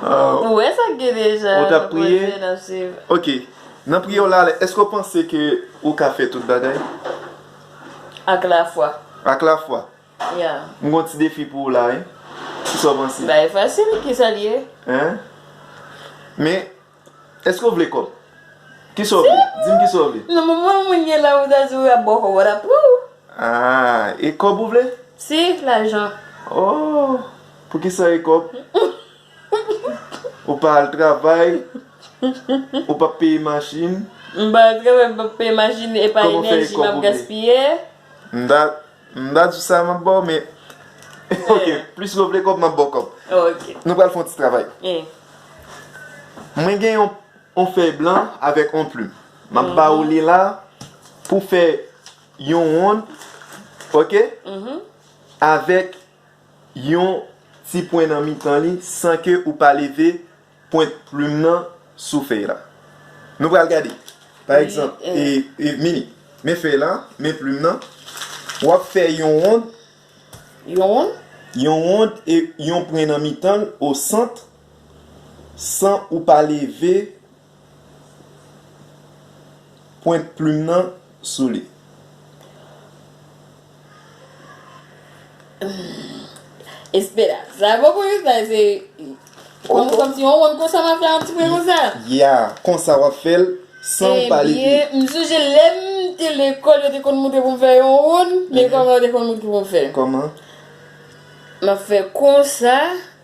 Ou wè sa k gen deja. Ou t ap priye? Bondye n ap suiv. Ok. Nan priye w la, èske w panse ke ou ka fè tout bagay? Ak lafwa. Ak lafwa? Yeah. M gen yon ti defi pou ou la wi. Kisa w panse? Bagay fasil, kisa l ye? Hein? Men, Eske w vle kòb? Kisa w vle? Di m kisa w vle? Nan moman moun gen la ou ta di w ap bò kòb, w ta pran w. Aa, e kòb ou vle? Si, lajan. Oo, pou kisa e kòb? Ou pa al travay, ou pa peye machin. M pa al travay, m pa peye machin, e pa enèji m ap gaspiye. Kòman w fè e kòb ou vle? M ta. M pa di sa map baw men ok plis love de kob map baw kob ok nou pral fon ti travay mwen gen yon yon fèy blan avèk yon plim map ba ou li la pou fè yon wonn ok avèk yon ti pwen nan mitan li san ke ou pa leve Pwent plim nan sou fèy la. Nou pral gade. Pa egzanp, e, Mini, men fèy la, men plim nan. W ap fè yon wond. Yon wond? Yon wond e yon pwen nan mitan l, o sant, san ou pa leve pwent plim nan sou li. Esperans Sa bon pou Yousda se Konm si yon wonn konsa map fè yon ti pwen konsa Ya konsa wap fèl San ou pale de Ebyen m sonje lèm te lekòl yo te konn moutre pou m fè yon wonn Men kòman yo te konn moutre pou m fè Kòman Map fè konsa.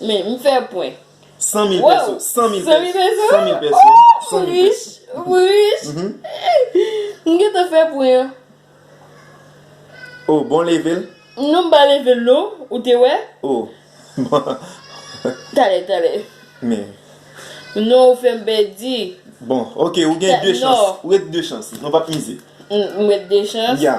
Men, m fè pwen. San mil pèso. San mil pèso. San mil pèso. Wouw! M rich. M rich. M gen tan fè pwen an. O, bon leve l. Non m pa leve l non. Ou te wè? O, bon. Talè, talè. Men. Non ou fè m pèdi. Bon, ok, ou gen de chans. Ou ret de chans. Non pa p mize. M ret de chans. Ya.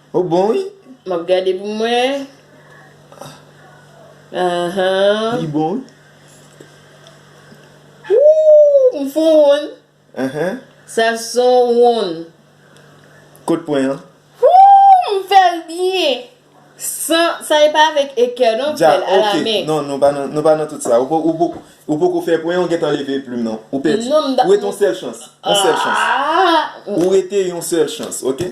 Ou bon wi. Map gade pou m wè ahan. Li bon wi. Ooh m fon wonn. Ahan. Sa son wonn. Kot pwen an. Ooh m fèl byen. San sa e pa avèk ekè non m fèl a la men. Non nou pa nan tout sa. Ou poko fè pwen an ou gentan leve plim nan. Ou pèdi. Ou rete yon sèl chans. Yon sèl chans. Ou rete yon sèl chans ok.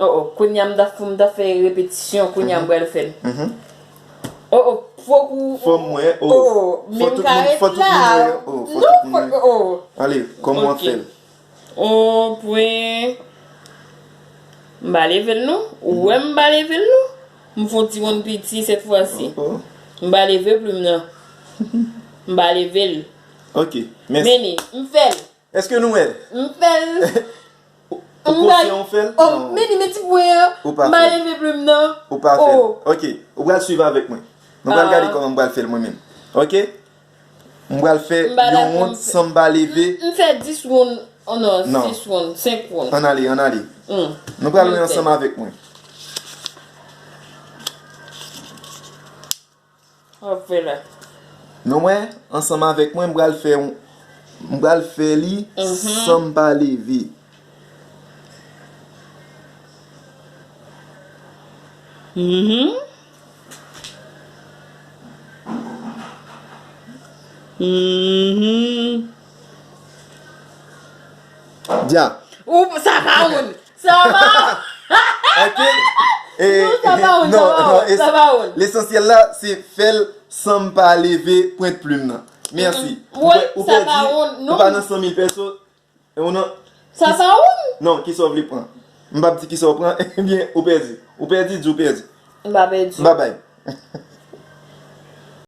Oh oh kounya m ta fòm ta fè repetisyon kounya m pral fèl oh oh fòk ou fòm wè oh men m ka ret la non fòk oh oh ale kòman wap fèl oh pwen m pa level non ou wè m pa level non m fon ti wonn piti sèt fwa si m pa leve plim nan m pa level ok mèsi m fèl. Eske nou wèl. M fèl. Ou konsyan ou fèl? Non. Oh Meni men ti pwen an. Ou pa fèl. Ma leve plume nan. Ou pa fèl. Oh. Ok. Ou pral swiv avèk mwen. Nou pral gade kòman m pral fèl mwen menm. Ok. M pral fè yon wonn san m pa leve. M fè 10 wonn. Oh non. Non. 6 wonn. 5 wonn. Ann ale, ann ale. Hum. Nou pral wè ansanm avèk mwen. Wap fe la. Nou wè, ansanm avèk mwen m pral fè yon m pral fè li san m pa leve. Dya. Ou sa pa woul. Lesansyèl la se fèl sanm pa leve pwent plim nan. Mèsi. Ou pè di ou pa nan 100.000 pèso. Sa pa oun? Non, kisa ou vle pran? M pap di kisa ou pran, ebyen ou pè di. Ou pè di, di ou pè di. M pa pè di. Babay.